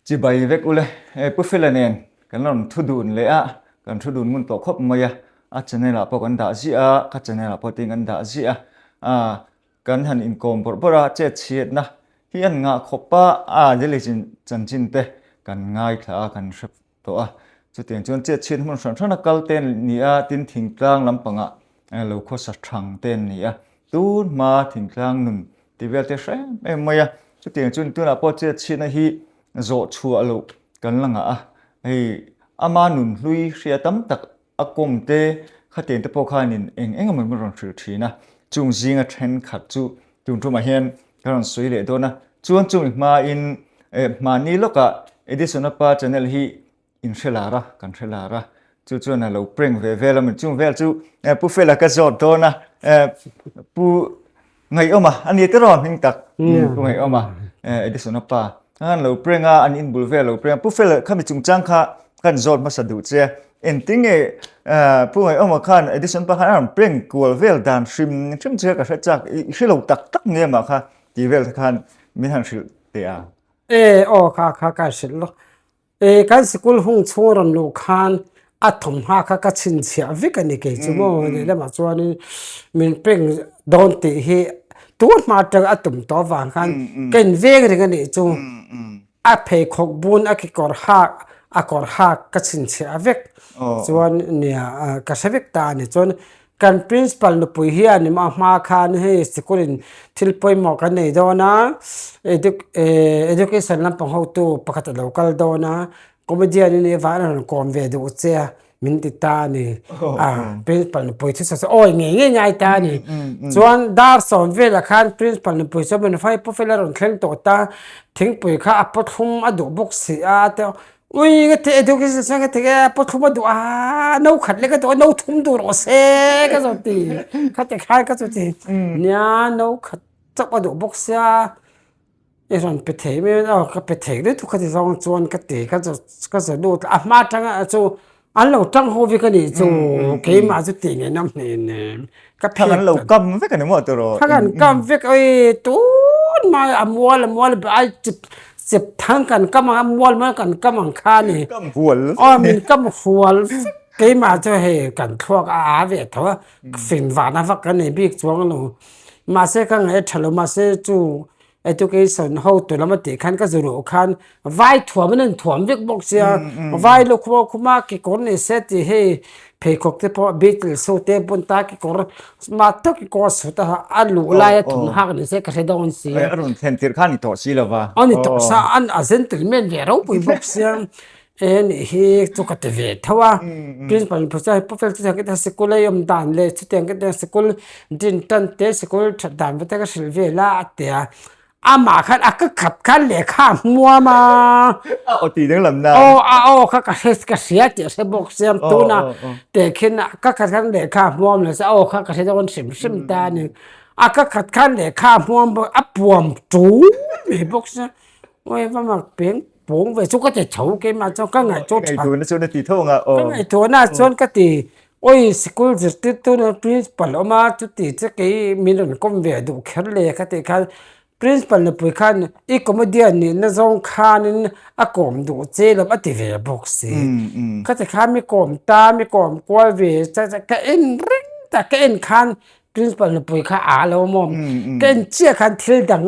Chibai vek ule e Pu Fela nen kan lo thu dun leh a, kan thu dun ngun tawh khawp mai a, a channel ah pawh kan dah ziah a, ka channel ah pawh tin kan dah ziah a, aa kan han inkawm bawrh bawrh a, chet chhiatna hi an ngah khawp a, aa Lily Chanchin te kan ngaithla a kan hre. tawh a, chutiang chuan chetchhiat hmun hran hrana kal te an ni a, tin thingtlang lampanga lo khawsa thang te an ni a, tun hma thingtlang nun ti vel te hrem em mai a, chutiang chuan tunah pawh chetchhiatna hi zawh chhuah loh kan la ngah a, hei ama nun hlui hria tam tak A kawng te, khaten te pawh khanin eng eng emaw min rawn hrilh thin a, chung zinga thenkhat chu tun tumah hian ka rawn sawi leh dawn a, chuan chumi hmain eh hma ni lawkah Edison-a pa Chanel hi in hrelar a, kan hrelar a, chu chuan a lo prank ve vel a, mi chung vel chu eh Pu Fela ka zawt dawn a, eh Pu. Ngaihawm a, a ni tiraw hming tak, eng pu ngaihawm a, Edison a pa, kha khan lo prank a, an inbul vel lo prank a, pu fel khami chungchang kha khan zawt hmasa duh che, engtin nge pu ngaihawma khan Edison pa khan a rawn prank kual vel dan hrim hrim che ka hre chak, i hre lo tak tak nge mah kha tih vel khan min han hrilh teh a. E aw kha kha ka hrilh lawk, E kan sikul hung chhung rawn luh khan a thawmhnaw kha ka chhinchhiah vek a ni kei chu maw leh lamah chuanin min peng dawn tih hi tunga hma atanga a tum tawh avang khan ka inveng reng a nih chu a pheikhawk bun a kekawr hak a kawr hak ka chhinchhiah vek chuan nia ka hre vek ta a ni chuan Kan principal nupui hian i mah hma khan hei sikul in thil pawimawh kan nei dawn a, education lampang hotu pakhat a lo kal dawn a, comedian i nih vah an rawn kawm ve duh che a min ti ta a ni. Principal nupui thusawi chu awi ngei ngei ngai ta a ni. Chuan dar sawm vel ah khan principal nupui chu a man fai puh fel a, a rawn thleng tawh ta, thingpui kha a pawt hlum a duh bawk si a, Ui ka ti education sen ka ti e paw thluma duh a no khat leh ka duh a no thum duh rawh se ka zawh ti ka ti khan ka chu ti nia no khat chauh a duh bawk sia i rawn pe thei mai a ka pe thei lutuk ka ti zawng chuan ka ti ka zawh ka zawh lut a hma tanga a chung. An lo tang ho vek a nih chu, keimah chu tih ngei nawm hmel em em, ka phek ta. Thlang an lo kam vek a ni maw tur aw. Thlang an kam vek a ee, tun mai a mual a mual a ai chep chep thlang kan kam ang a, mual mual kan kam ang kha a ni. Min kam hual vek. Aw min kam hual vek, keimah chu hei kan thluak a â ve tho a, fin vana vak ka nei bik chuang a lo, mahse ka ngaih a tha lo, mahse chu Education ho tu lama tih khan ka zuluh khan vai thuam in a in thuam vek bawk sia vai lukhum a khum a kekawr ni se ti hei pheikhawk te pawh beatles ho te bun ta kekawr smart tak kekawr a suit a ha a a luh lai a thum hak ni se ka hre dawn si a. Ai a rawn thlen tirh khan a ni tawh si lova. A ni tawh sa a a gentle man ve ropui bawk sia. E nih hi chu ka ti ve tho a principal miphun chuan pufe chu tiang in sikul a awm dan leh chu tiang in sikul din tan te sikul that dan te ka hrilh vel a a ti a amah khan a ka khat khan lehkha a hmuam a a aw tih dang lam nan aw a aw kha ka hre ka hria tih a hre bawk siam tuna te khin a ka khat khan lehkha a hmuam lo se aw kha ka hre dawn hrim hrim ta a ni a ka khat khan lehkha a hmuam bawk a puam ṭûl mai bawk se aw eva mak peng-- pawng ve chu ka ti tho keimah chuan ka ngaih chu tha. Ka ngaih tuna chuan a ti thung a aww. Ka ngaih tuna chuan ka ti awi sikul zirtirtu na principal awm a chuti chu kei min rawn kawm ve a duh kher le ka tih khan principal nupui khan i comedian nih na zawng khanin a kawm duh che lo a ti ve bawk si khati khan mi kawm ta mi kawm kual ve che che ka en ring ta ka en khan Principal nupui kha a lo mawm ka en chiah khan thil dang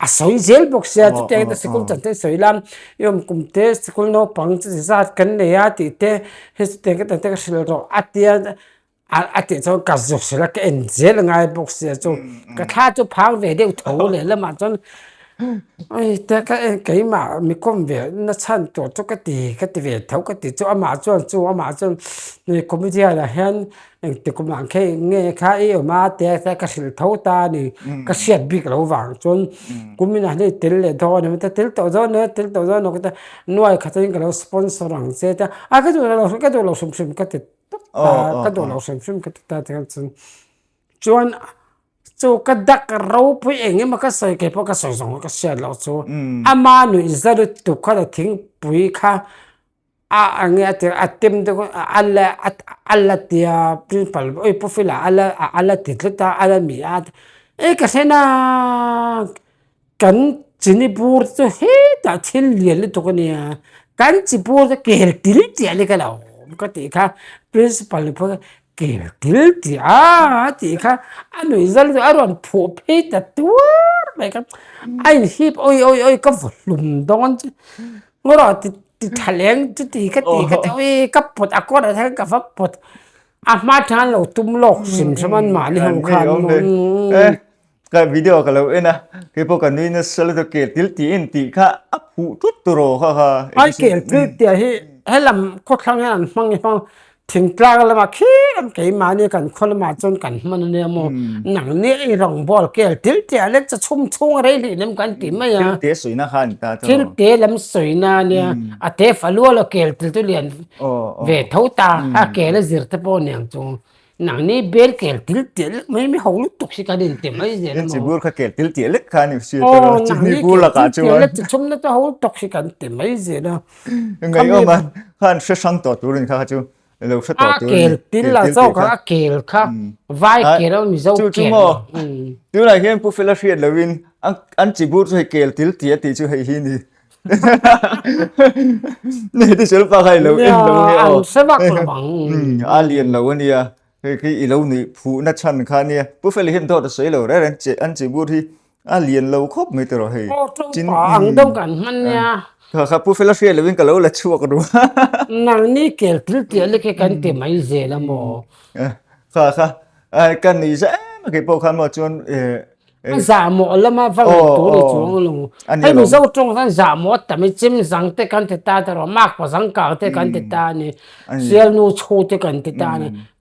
a sawi zel bawk sia chutiang ah hian ka sikul chan te a sawi la i awm kum te sikul naupang chi chi zat kan nei a tih te hei chutiang ka tan te ka hrilh rawh a tia a tih chuan ka zuk sil a ka en zel a ngai bawk sia chu ka thla chu phang ve deuh tho leh lam ah chuan ai te ka en keimah mi khawm ve na chhan tur chu ka ti ka ti ve tho ka ti chu amah chuan chu amah chuan comedian ah hian Engtik awm ang khe eng nge kha i awm a tia ka tia ka hrilh tho ta a ni ka hriat bik loh vang chuan kumin ah hei tel leh dawn a ni maithei a tel tawh dawn e tel tawh dawn e ka tia nuaih kha chuan ka lo sponsor ang che a tia a ka duh loh ka duh loh hrim hrim ka ti tawp ta ka duh loh hrim hrim ka ti ta tikhan chuan chuan chu ka dak ropui eng emaw ka sawi kei pawh ka sawi zawng a ka hriat loh chu ama nuih zarh tuk khan a thingpui kha. A ange a tirh a tem te kawng a la a la ti a principle ui pawfila a la a la ti tlat a a la mi a e ka hre naaa kan chi ni bur chu hetah thil lian lutuk a nia kan chi bur chu ker til chiah ni ka lo awm ka tih kha principle ni pawh ker til chiah aa tih kha a nuih zal zawh a rawn phuh phei ta tuar mai kha a inhip awih awih awih ka vawllum dawn chuh. Ngura ti ti tha lem chuti ka ti ka teuh i ka pawt a kawt ah hian ka va pawt a hma tha an lo tum lawk hrim hrim an mah ni ho khan ka video ka lo en a kei pawh ka nui nasa la tawh keltir ti en tih kha a phuh tut tur aw ha ha. Ai keltir tih ah hi he lam khawthlang hian an hmang i hmang. Thingtlang lama khi lam keimahni kan khaw lamah chuan kan hman ania maw, nang nge i rawn ball kel til teh alek chu chhum chhung a rei hlih lem kan tih mai a. Thil teh sawina kha ani ta chuan aw. Thil teh lam sawina ania a teh fa lual a kel til chu lian ve tho ta a kel a zir te pawh a niang chu nang ni bel kel til teh lek mai ami ho lutuk hi kan inte mai zel a maw. Inchi bur kha kel til teh lek kha ani si chuan aw nang ni kel til teh lek chu chhumna chu ho lutuk hi kan ti mai zel a. Ngai awm a, kha an hre hrang tawh tur a ni kha kha chu lo hre tawh tur a ni. A kel til la chaw kha a kel kha, vai kel a mizo kel. Chu chu maw, tunah hian Pu Fela hriat lohin an chi bur chu hei kel til ti a tih chu hei hi a ni. Nei tih hrelo pa kha i lo en lo nia aw. An hre vak lo ang. A lian lo a nia, khi khi i lo nuih phuhna chhan kha nia. Pu Fela hi an dawt a sawi lo reng reng, che an chi bur hi a lian lo khawp mai tawrh hei aw to pa ang deuh kan hman nia kha kha pu fela hriat lovin ka lo la chhuak ru a nang ni kel til tia le khe kan ti mai zel a maw kha kha ai kan ni za em kei pawh khan maw chuan e a za mawh lama va ngaih tur i chuang a lo hei mizo tawng khan za mawh a tam e chim zang te kan ti ta tawrh a mak pa zangkang te kan ti ta a ni sialnu chhu te kan ti ta a ni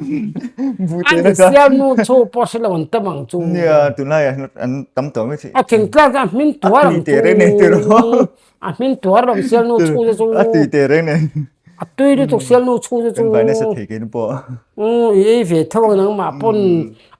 An Isiamnu chu pawh a hre lo an tam ang chu. Nia, tunlai ah hian an tam tawh mai thei. A thlen tlak hian a hming tuar ang chu. A tui tereng nei tur a. A hming tuar lo Isiamnu chhung te chu. A tui tereng nei. A tui lutuk Siamnu chhung te chu. Kan vai nasa thei ke nu pawh. I ei ve tho ang nangmah pawn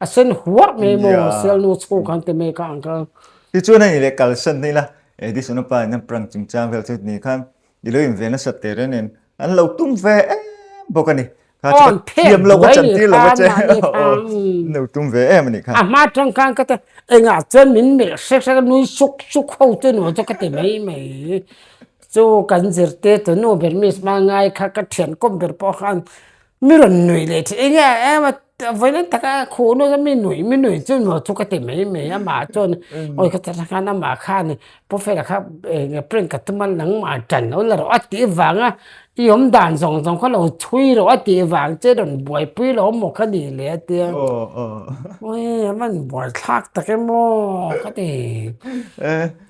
a sen huarh mai a maw Sialnu chhung kha an ti mek a ang kha. Tichuan hei leh kalsan hna ila, Edison-a pa hian prank chungchang vel chu ni khan I lo inve nasat teh reng nen an lo tum ve em bawk a ni. Awn phek duai leh kha mah ni kha umm. An lo tum ve em a nih kha. A hma atang khan ka ti a engah chuan min melh hrek hrek a nui suk suk ho chu ni maw chu ka ti mai mai. Chu kan zirte tunu Bermese hma ngai kha ka thian kawm ber pawh khan mi rawn nui leh thin enge em a Vawina tak a khuh nasa mi nuih mi nuih chu no chu ka ti mai mai a mah chuan awi ka ta khan amah khan prophet a kha eng prank ka tum a nangmah ṭan lo la rawh a tih vanga i awm dan zawng zawng ka lo chhui rawh a tih vang che rawn buaipui lo maw ka nih leh atia awii a van buaithlak tak em aw ka ti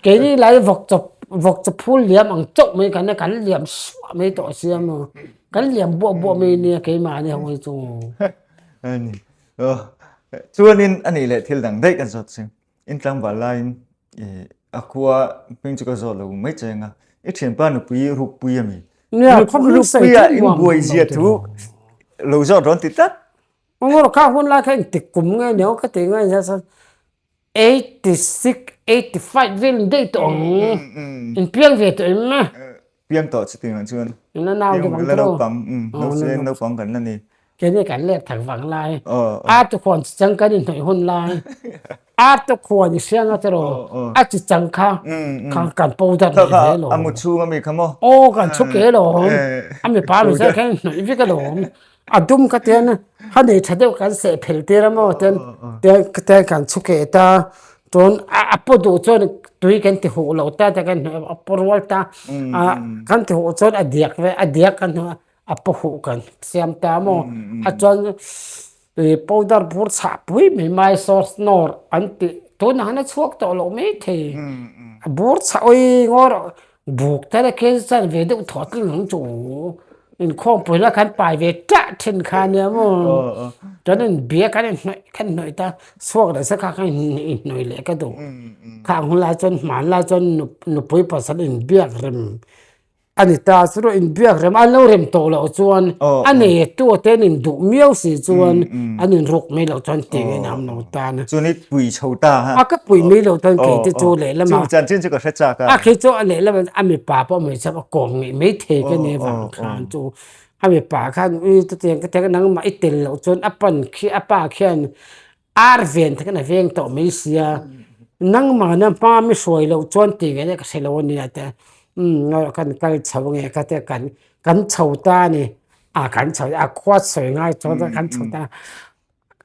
keini laiah vawk chaw vawk chaw phul liam ang chauh mai kan a kan liam suah mai tawh si a maw. Kan liam buah buah mai nia keimah a ni ho hi chung. Ani. Ro. Chuanin a nih leh thil dang daih kan zawt si. In tlangval laiin a khua hming chu ka zawt lo mai che ang a. I thianpa nupui Rukpui a mi. Nia, khaw hming sei chu nuam duh lo teh ang lo. Lo zawt rawn ti tlat. Emaw, ka hunlai kha engtik kum nge niawm ka tih ngai zel chuan. Eighty six, eighty five vel in daih tawh ang e, in piang ve tawh em e. Piang tawh chu tin ah chuan. In la nau deuh ang chu. Naupang, Hnusawiin naupang kan la ni. Kei nge kan lek thar vang lai. A tukhuan chi chang kan inhnawih hun lai. A tukhuan i hriang at erawh a chi chang kha kan paw dat leh ve lo. A mut chhung ami kha maw. Aw kan chhuk e lawm. A mipa mizel kha i hnawih vek alawm. A dum ka tian ha nei tha deuh kan seh phel tir a maw tian tian kan chhu keh ta chuan a paw duh chuan tui kan ti huh loh ta te kan hnaih a paw rual ta a kan ti huh chuan a diak ve a diak kan hnaih a a paw huh kan siam ta a maw a chuan ih powder bur chhah pui mai mai sauce nawr an tih tunah hian a chhuak tawh loh mai thei a bur chhawi ngawr. Buk tana kil chuan ve deuh thawh thleng ang chu inkhawm pui la kan pai ve tah thin kha nia maw chuan in bia kan inhnawih kan inhnawih ta chhuak leh sakah khan inhnawih leh ka duh kha ang hun lai chuan hmanlai chuan nupui pasal in biak rem ani ta chu ruih in biak rem anlo rem tawh loh chuan a nei tu ten in duh miau si chuan an in ruk mai loh chuan tih a inang lo. Dan a. Chuan i pui chho ta ha. A ka pui mai lo chuan keite chu lehlam a. Chung chuan chin chu ka hre chak a. A khi chu a lehlam a a mipa pawh mai chauh a kawm ngei mai thei ka nia vang khan chu a mipa khan i chutiang ka tia nangmah i tel loh chuan a pan khi a pa khian ar ven tak in a veng tawh mai sia nangmah na hma mi hruai loh chuan tih ve deuh ka hrelo a nia tia a kan kal chho nge ka tia kan kan chho ta a ni a kan chho a khuasawi ngai chuan kan chho ta.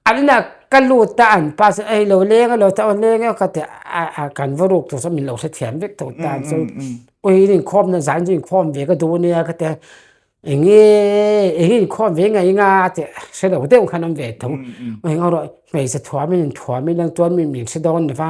Alna ka lut a an pa sawn eilo leng alo ta aw leng emaw ka ti a kan va ruk tur sawn min lo hrethiam vek tho ta chuan awii in inkhawm na zan chu inkhawm ve ka duh ania ka ti a enge eng hi inkhawm ve ngei anga a ti a hrelo deuh khan awm ve thung eng erawh hmeichhe thuam in inthuam ila chuan mimin hre dawn lova.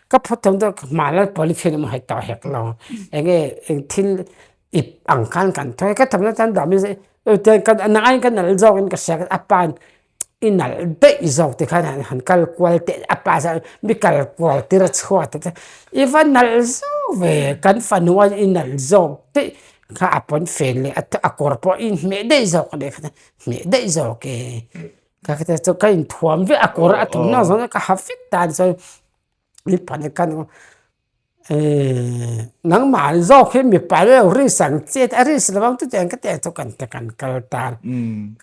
Ka phawt thung deuh ka hma lal pawh likhian awm hai tawh hek lo eng nge eng thil ip ang khan kan thawi a ka thawkna tan dah mahse a nang aiin ka nalh zawkin ka hria a pa hian i nalh daih zawk ti khan han kal kual teh a pa hian mi kal kual tir a chhuat ta chuan i va nalh zauh ve kan fanu a i nalh zawk daih kha a pawnfen leh a kawr pawh i hmeh daih zawk a ni kha hmeh daih zawk e. Ka kete chu ka in thuam viah a kawr a tum nawh zawng ka ha vek dan chuan i pahna ka nu nangmah zawk hi mipa hi lo risk ang che a risk lo ang chuti ang ka tih ah chuan ka kan kal ta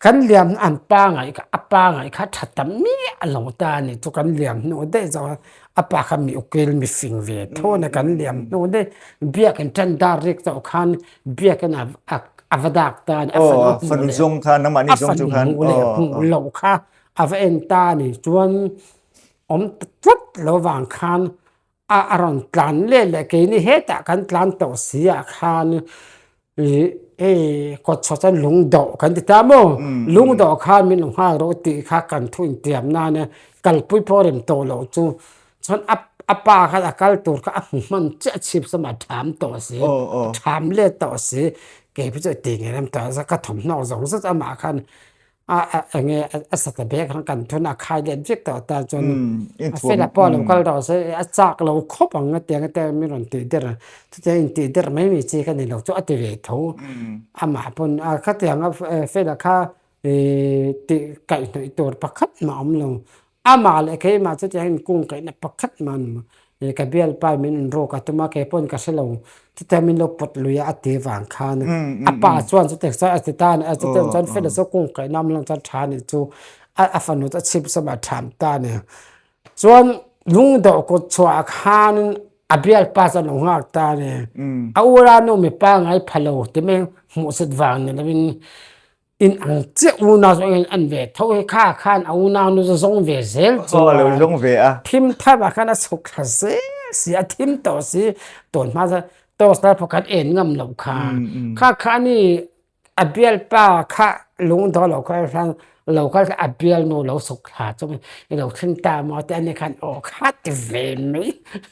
kan liam an pangai kha a pangai kha tha ta miah a lo ta a ni chu kan liam hnuh daih zawng a apa kha mi ukil mi fing ve thun a kan liam hnu daih biak in tendar rek chauh khan Biakna a va dak tan a fanu hmuh leh. Aw, fanu zawng khan, nangmahni zawng chu khan. Aw, aw. A fanu hmuh leh hmuh loh kha a va en ta a nih chuan awm ta tlat lo vang khan a rawn tlan leh leh. Keini hetah kan tlan tawh si ah khan ih hei kawt chhuah chuan lung dawh kan ti ta maw? Lung dawh khan min lo nghak rawh tih kha kan thu intiam nan a kalpui pawh a rem tawh loh chu. Chuan a a pa khan a kal tur kha a hmu hman chiah a chhip sawm a, a tham tawh a si, a tham let tawh a si, kei pawh chu a ti ngei lam tawh a, ka thawmhnaw zawng zet a mah khan a a eng nge a sata ber khan kan thuna a khai let viau tawh ta chuan a fela pawh a lo kal tawh a si, a chak lo khawp ang a tiang ata min rawn tih der a, chutiang in tih der mai mai chi kha ni lo chu a ti ve tho a mah pawn a khatiang a fela kha ihh tih kaihhnawih tur pakhat a awm lo. Amah leh keimah chuti hian kawngkaihna pakhat mah an awm a, ih ka bialpa min in rawk a tum a, kei pawn ka hre lo, chutiang min lo pawt lui a a ti vang khan a pa chuan chu text a a ti ta a ni a, chutiang chuan fela saw kawngkaihna awm lang chuan tha nih chu a a fanu chu a chhip zawm a a tham ta a ni. Chuan lungdaw kut chhuah ah khan in a bialpa chuan a lo nghak ta a ni, a ulanu mipa ngai pha lo ti mai hmuhsut vang ni lo in, In ang chiah unau chu engin an ve tho hi kha khan a unau nu chu zawng ve zel chu a lo zawng ve a. Thim thap ah khan a chhuk thla zel si a thim tawh si tawn hma chuan torch lai pawh kan en ngam lo kha kha khan a ni a bial pa kha lung dawn lo kha khan lo kal a bial nu lo chhuk thla chu i lo thleng ta maw te a ni khan aw kha ti ve mai.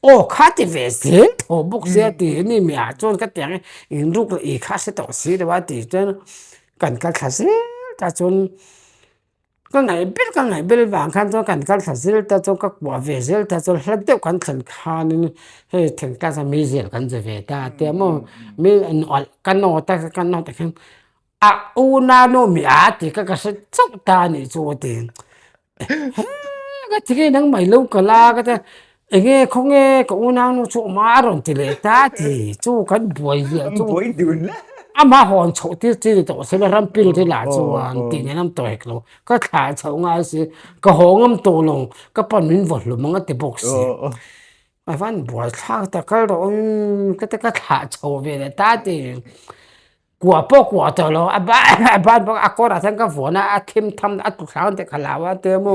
Aw kha ti ve zel tho bawk sia ti hi ni meh ah chuan ka ti ang e in ruk la i kha a hre tawh si lo a ti chuan kan kal thla zel ta chuan ka ngaih ber ka ngaih ber vang khan chuan kan kal thla zel ta chuan ka kuah ve zel ta chuan hla deuh kan thlen khan in hei thengtlak chuan mi zel kan ze ve ta tia maw mi an awlh ka naw ta ka naw ta khan a u nano miah a ti kha ka hre chauh ta a nih chu a ti. Ka ti nge nangmai lo ka la ka tia eng nge khaw nge ka u nang nu chu awma a rawn ti leh ta a ti chu kan buai hliah a chung ama hawn chhoh tir tir ni tawh se la rampin te lah chuan tih ni lam tawh hek lo ka thla chhoh ngai si ka haw ngam tawh lo ka pan min vawt hlum anga ti bawk si ka van buai thlak tak kal rawh ka tia ka thla chho ve leh ta a ti. kuah pawh kuah tawh lo a ban pawh a kawrah chuan ka vuan a a thim tham a tlu thlâng deuh hala a tia mu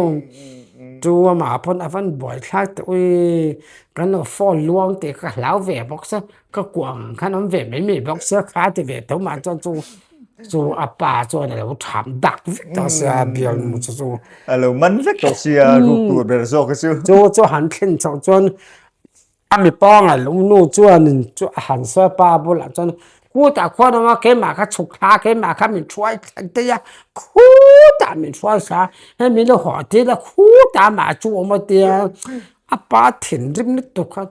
chu amah pawn a van buai thlak tawh i kan lo fawn luang teh ka hlau ve bawk se ka kuah ang khan awm ve mai mai bawk se kha a ti ve tho mah chuan chung chu a pa chuan a lo chham dak vek ta sia a bialnu chu chu a lo man vek tawh sia ruk tur ber zawk a chu chu chu han thlen chauh chuan A mipa ngaih loh nu chuanin chu a han sawi a, pa a bulah chuan khutah khuan awm a, keimah kha chhuk thla a, keimah kha min hruai thleng daih a, khutah min hruai thla a, hei min la hahdil a, khutah amah a chu awm atia a pa thinrim lutuk kha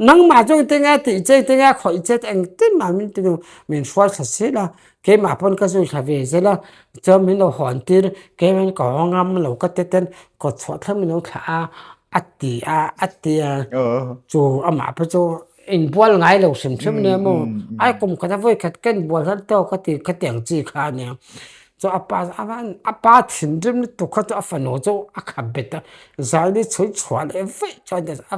nangmah zawng tinge tih che tinge khawih che eng timah min ti deuh min hruai thla sil a, Keimah pawn ka zui thla ve zel a, chuan min lo hawn tir, kei hian ka haw ngam lo ka ti ten kawt chhuah thlang min lo thlah a, a ti a, a ti a, chu amah pawh chu inbual ngai lo hrim hrim nia maw, ai kum khat a vawi khat ka inbual har tawk a ti ka ti ang chi kha a nia, chu a pa a pa thinrim lutuk kha chu a fanu chu a kha bet a, zai ni chhui chhuah leh vaih chuan a.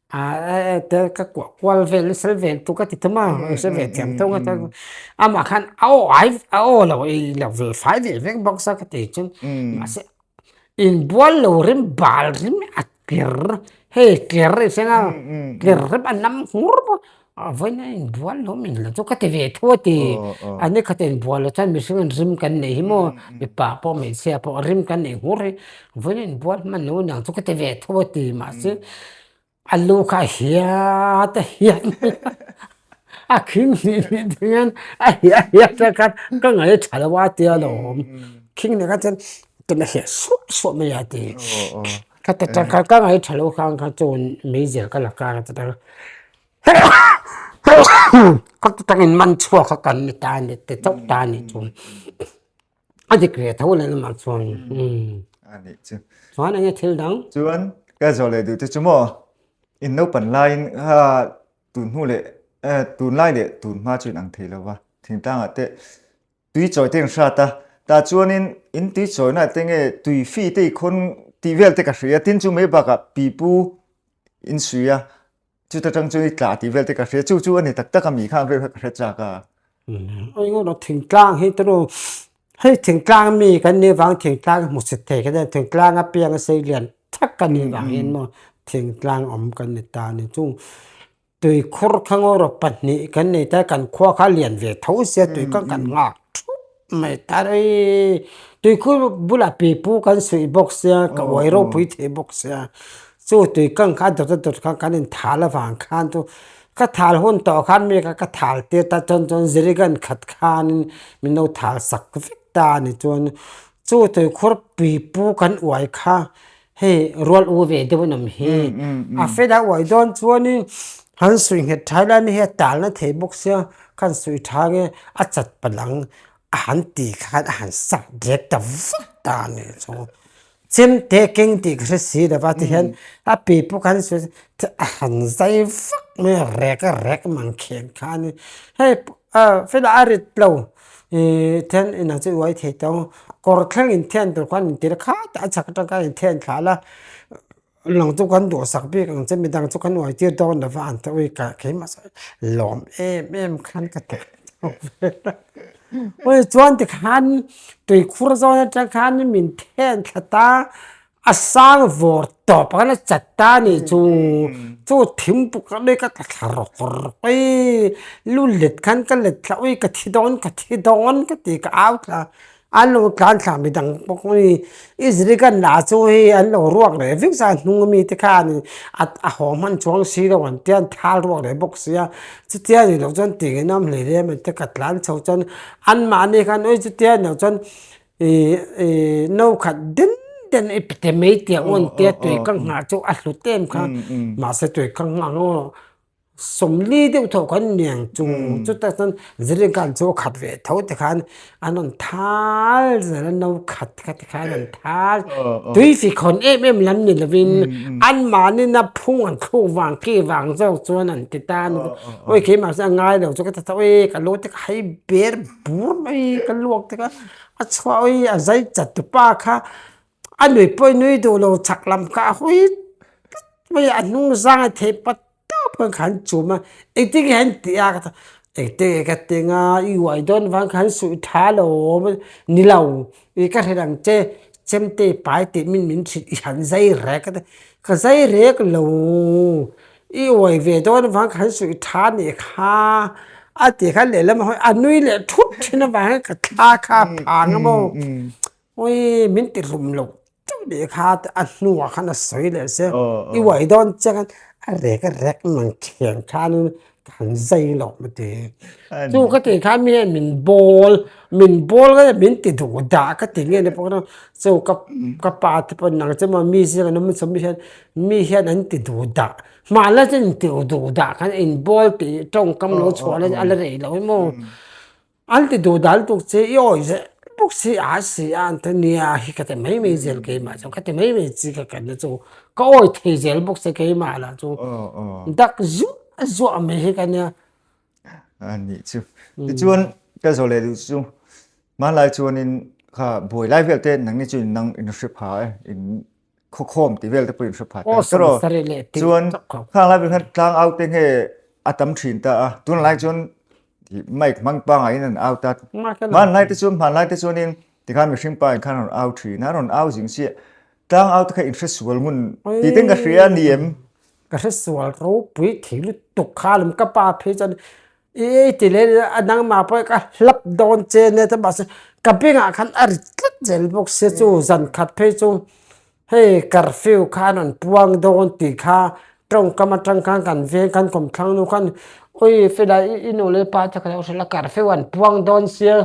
Tel ka kuah kual vel na sel ve tu ka ti thum a, ka sel ve thiam thung a chuan amah khan a aw ai a aw lo ei lo ve fai leh vek bawk sa ka ti chuan mahse inbual lo rem bal rem a tler hei tler erawh a senga tler rem a nam hmur. A vawiin a in bual hlawm in la chu ka ti ve thu a ti, a ni kha ten bual lo chuan mihring in rim kan nei hi maw, mipa pawh hmeichhia pawh rim kan nei hmur hi, vawiin a in bual hman lo aniang chu ka ti ve thu a ti, mahse a lu kha a hiat a hiat mai a, a khing hnih hnih te hian a hiat a hiat a khan ka ngai tha lo a tia lo, khing ni kha chuan tuna hliah suah suah mai a ti. Ka ta ta ka ka ngai thalo kha ka chawn meizel ka la kar a ta ta ka ta ta in man chhuak a kan ni ta a ni ta chauh ta a ni chuan a dik ve tho leh lamah chuan a ni chu chuan enge thil dang chuan ka zawh leh duh te chu maw in naupan laiin ha tunhnu leh tunlai leh tunhma chu in ang thei lo va thingtangah te Tui chawi te an hrat a, tah chuanin in tui chawina te nge tui fi te i khawn tih vel te ka hria a, tin chu mai bakah pipu in sui a, chuta tang chuan i tla tih vel te ka hria, chu chu a ni tak tak a, mi kha ang reuh hian ka hre chak a. Engemaw thingtlang hi tunu hei thingtlang mi kan nih vang thingtlang hmu chhe thei ka nen, thingtlang apiang sei lian thak ka nih vangin maw thingtlang awm kan ni ta a ni. Chung Tui khur kha ngaw rawh pahnih kan nei ta kan khua kha lian ve tho sia tui kha kan nghak thup mai ta rei tui khur bulah pipu kan suih bawk sia ka uai ropui thei bawk sia chu tui kang kha a dawt a dawt kha kan in thal avang khan chu ka thal hun tawh khan mi kha ka thal tir ta chuan chuan zirigan khat khan in min lo thal sak vek ta a ni chuan chu tui khur pipu kan uai kha. Hei rual u ve deuh nam hi a fed a uai dawn chuan in han sawi nghet thai lai nihia talna thei bawk sia khan sawi tha nge a chat palang a han ti kha khan a han sak dek ta vat a ni chu chem te keng tih ka hre si lo va ti hian a pi pawh kha a han zai vak mai a rek a rek a man khen khan ni hei. Aw fela a rit lo i then inang chu i uai thei tawng kawr thleng in thian tur khan in tir kha a chak atang khan in thian thla la inang chu kan duh sak bik ang che midang chu kan uai tir dawn lo va ang te ui kah keimah sawn lawm em em khan ka ti ui chuan tikhan tui khur zawn atang khan min then tlat a. A sang vawr tawp a la chat ta a nih chu, chu thim puk a mek a ka thla rawk rawk i, lu let khan ka let thla ui ka thi dawn ka thi dawn ka ti ka au thla an lo tlan thla mi dang bawk a ni, i ziri kan la chu hei an lo ruak leh vek zan hnung a mi te khan a a haw hman chuang si lo ang te an thal ruak leh bawk sia chutia ni loh chuan tiang in a awm hle reng a mi te ka tlan chho chuan an mahni khan awii chutia ni loh chuan No khat den den i pe te mai tih a awn tia a tui kang nghah chu a hlut em kha. Mahse tui kang nghah ho sawmli deuh tho kan ni ang chung chutak chuan zirlaikan chu a khat ve tho te khan a rawn thal zel a no khat khat te khan a rawn thal tui fikhawn em em lam ni lovin an mahnina phung an thluk vang ki vang zawk chuan an ti ta a ni bawk awi khei mahse a ngai lo chu ka ta chauh e ka lo tek hai ber. Pur mai ka luak dik a, a chhuah hi a zai chat tu pa kha a nui pawi nui duh lo chak lam kha a hawi tlat mai a, a hnung zang a thei pat tap khan ka han chum a, engtinge han ti a ka tih a, engtinge ka tih a i uai dawn vang kha an suih tha lo awm a ni lo, i ka hre ang che Chemtei pai tih min min hrilh i han zai rek ka ti a, ka zai rek lo. I uai ve dawn avang kan suih tha a nih kha a ti kha lehlam hawi a nui leh thup thin avang hian ka thla kha a phang a maw awii min ti hlum lo teuh nih kha a hnungah khan a sawi leh se i uai dawn chiang khan a rek a rek in ang thiam khan in ka han zai loh ka ti chung ka ti khan mi hian min bawl min bawl ngai a min ti duh dah ka ti nge ni pawh ka rawh chung ka ka pa te pawh nang che maw mi zing an awm chawm mi hian Mi hian an ti duh dah. Hmah la chuan in ti duh dah kha an inbual tih tawngkam lo chhuah la a la rei lo em aw. An ti duh dan tuk che i awi zeh bawk si a si a an ti nia hi ka ti mai mai zel keimah chuan ka ti mai mai chi ka khenna chu ka awi thei zel bawk se keimah lah chu dak zuah zuah mai hi ka nia. A ni chu. Tichuan ka zawh leh duh chu hmanlai chuanin kha buai lai velte nang nge chu in nang in hre pha e. khawkhawm tih vel te pawhin hre pha ta. Awesome sari le tih chuan khang lai ber khan tlang out te nge a tam thin ta a tun lai chuan mic hmang panga in an out a man lai te chu man lai te chuan in tikhan mihring pa in khan rawn out thin a rawn out zing chiah tlang out te kha in hre sual ngun ti ten ka hria ni em ka hre sual ropui thei lutuk kha lawm ka pa phei chuan I ei ti leh a nangma pawh i ka hlap dawn che nia chuan mahse ka bengah khan a rit tlat zel bawk se chu zan khat phei chu hei curfew kha an rawn puang dawn tih kha tawngkam atang khan kan veng kan kawm thlang nu khan awi Felai i nu leh i pa te kha lo hrilh a curfew an puang dawn sia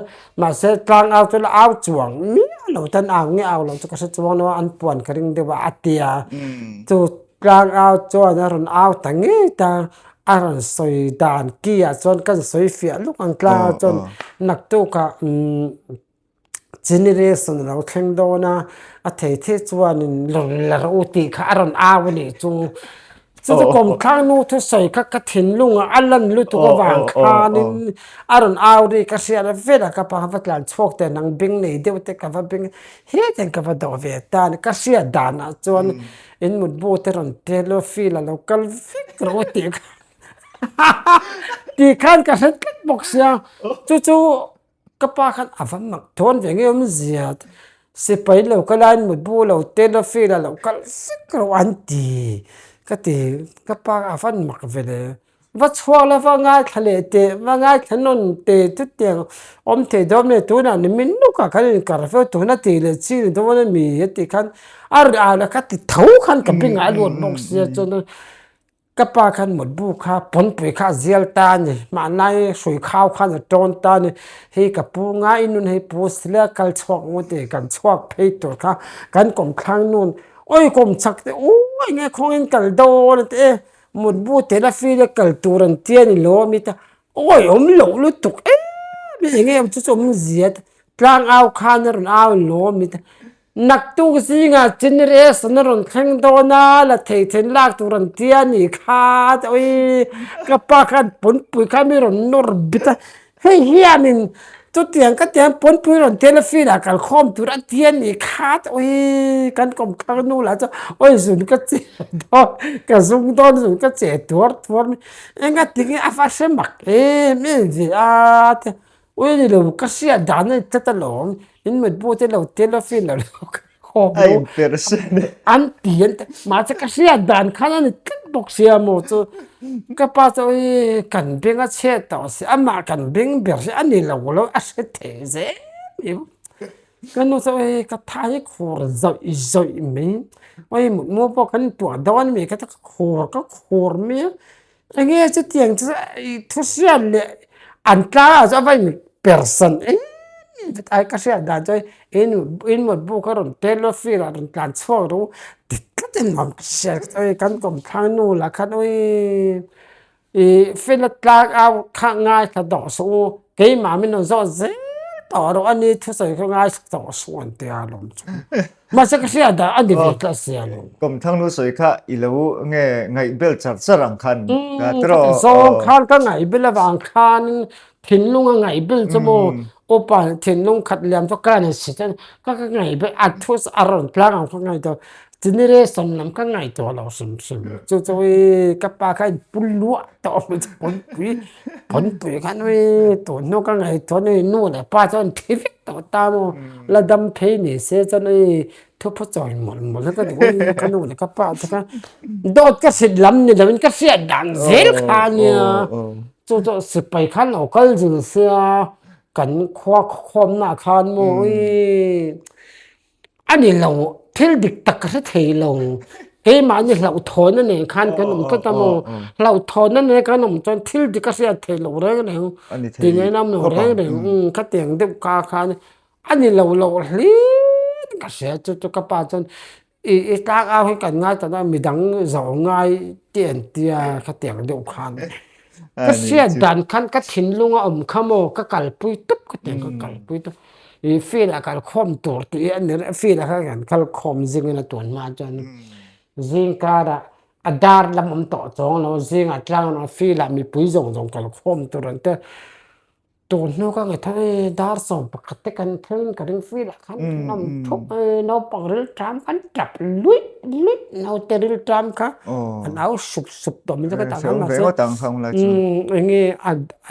mahse tlang au chuan a au chuang miau lo chuan au nge au lo chu ka hre chuang lo a an puan ka ring deuh a a tia chu-- Tlang out chuan a rawn au ta ngei ta, a rawn sawi dan kiah chuan kan sawi fiah luk ang, tlang out chuan naktuk ah generation a lo thleng dawn a, a theithi chuan in lawrlar u tih kha a rawn au a nih chu. Chuchu kawmthlang nu thusawi kha ka thinlung ah a lan lutuk avang khan in a rawn au ri ka hriat a vela ka pa kha va tlan chhuak teh nang beng nei deuh te ka va beng, hetiang ka va doh ve tan, ka hriat dan ah chuan, In mutbu te rawn tel lo feel a lo kal vek rang a tih tih khan ka hre tlat bawk sia chu chu ka pa khan a va mak thawn ve ngei awm zia sipai lo ka la in mutbu lo tel lo feel a lo kal vek rang an ti ka ti ka pa a van mak ve le. Va chhuak la va ngaithla leh teh va ngaithla nawn teh chutiang awm thei dawn a ni tunah nimin lawkah kan inkar ve tawh tuna tih leh chhi ni dawn a ni a tih khan a riah leh ka ti tho khan ka bingah a luat bawk sia chuan ka pa khan mutbu kha pawnpui kha a zial ta a ni hmanlai hrui khau khan a tawn ta a ni hei ka pu ngai i nun hei pu si la kal chhuak maw tih kan chhuak phei tur kha kan kawmthlang nun awii kawm chak teh uuh enge khawngin kal dawn a ti e. Mutbu te la feel a kal tur an ti a ni lo amit a, awi awm loh lutuk em em eng nge awm chu chu awm zia tlang au khan a rawn au ni lo amit a, naktuk zinga chin rest an a rawn thleng dawn a la theithen lak tur an tia ni kha awi ka pa khan pawnpui kha mi rawn nawr bit a Hei hian in chutiang ka tiang pawnpui rawn tela field ah kal khawm tur ati a nih khat awii kan kawmkhar nu lah chuan awii zun ka che dawn ka zung dawn zun ka che tuar tuar mai engatin a va hre mak em em ve a tia awii nilo ka hriat dan a ni tlat alawm in mutbu te lo tela field ah lo ka ring. Khawp lo. A inper se nen. An ti an ti mahse ka hriat dan khan a ni tlat bawk si a maw chu ka pa chu awii kan beng a chhiat tawh si amah kan beng ber hi ani lo lo a hre thei zel mai bawk ka nu chu awii ka tha hi khur zawih zawih mai awii mutmu pawh kan tuah dawn a ni ka khur ka khur mai a. Eng nge chutiang chu thu hriat leh an tlangah chuan va inper san em em ta a ka hriat dan chuan i notebook a rawn tel a file ah a rawn tlan chhuak rû dik tlakin a rawn hriat ka chauh a kan kawmthlang nu lah khan ûi i file a tlang a khah ngaithla tawh suh u keimah min rawn zawt zêl tawh rû a ni thusawi kha ngaithla tawh suh an tia a lawm chu. Mahse ka hria dah a ni ve ka a siam. Kum Thangnu sawi kha i lo nge ngaih bel char char ang khan ka tiraw. Khati zawng khan ka ngaih bel avang khanin thinlung a ngaih bel chu maw upa leh thinlung khat liam chu ka rawn si chuan ka ka ngaih bel a thu chu a rawn tlang ang kha ngaih tur tini reson lam ka ngaih tawh lo hrim hrim chu chu i ka pa kha i pu luah tawh a hmel chu pawi pui. Pawnpui khan ui tunhnu ka ngei chuan ui nu leh pa chuan thi vek tawh ta maw la dam phei ni se chuan ui thupu chawi mawlh mawlh a ka ti ui ka nu leh ka pa te kha dawt ka hrit lam ni loin ka hriat dan zel kha nia chu chu sipai khan lo kal zir sia kan khua khawmna khan maw ui A ni lo, thil dik tak ka hre thei lo. Keimahni hlauhthawn a nei khan kan awm tlat a maw? Hlauhthawn a nei kan awm chuan thil dik ka hriat thei lo reng reng. A ni thei khawp ang. Ti ngei lam lo reng reng ang. Ka tiang deuh ka khan a ni lo loh hliiin ka hria chu chu ka pa chuan i i tlak au hi kan ngaihtuah na mi dang zawh ngai tih entia ka tiang deuh khan. Ka Ani hriat chu dan khan ka thinlung a awm kha maw ka kalpui tup ka ti ang ka kal pui tup i field a kal khawm tur tih i a ni rih a field a kha kan kal khawm zing in a tun hma ah chuan zing kar ah a dar lam awm tawh chawng lo zing ah tlang lo field ah mipui zawng zawng kal khawm tur an tel. Tûr hnu ka nge thung e, dar sawm pakhat te kan phel in ka ring fil a, khan ka nawm thup e, naupang rilṭam khan ṭap luih luih, naute rilṭam kha an au sup sup tawh mai zawk a tang hian mahse eng nge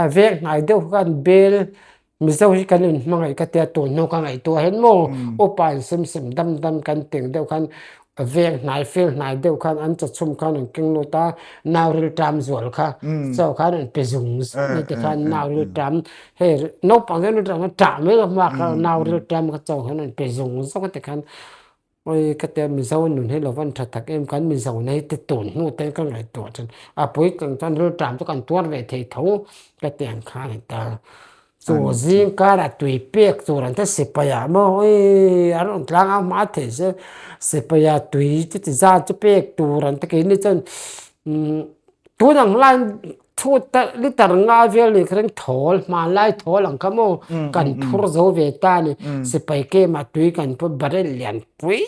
a vêk hnai deuh kha an bêl Mizo hi kan inhmangaih ka tia tûr hnu ka ngaihtuah hian maw upa an sim sim dam dam kan teng deuh khan Veng hnai fel hnai deuh khan an chachum khan an keng lut a, nau rilṭam zual kha chaw khan an pe zung zung mai te khan nau rilṭam hei naupang hian rilṭam khan ṭah mai ka hma kha nau rilṭam kha chaw khan an pe zung zung a ti khan awi ka tia mizo nun hi lova an ṭha tak em kan mizo nei te tun hnu te ka ngaihtuah ṭhin a puitling chuan rilṭam chu kan tuar ve thei tho ka ti ang khan a ni ta. Chu zing kar a tui pek tur an ta sipai ah maw awii an rawn tlang a hma theih se sipai ah tui chu ti zan chu pek tur an ta kei ni chuan tun ang lai chhut ta litre nga vel ni kha ring thawl hmanlai thawl ang kha maw kan phur zo ve ta ni sipai kem ah tui kan phur barrel lian pui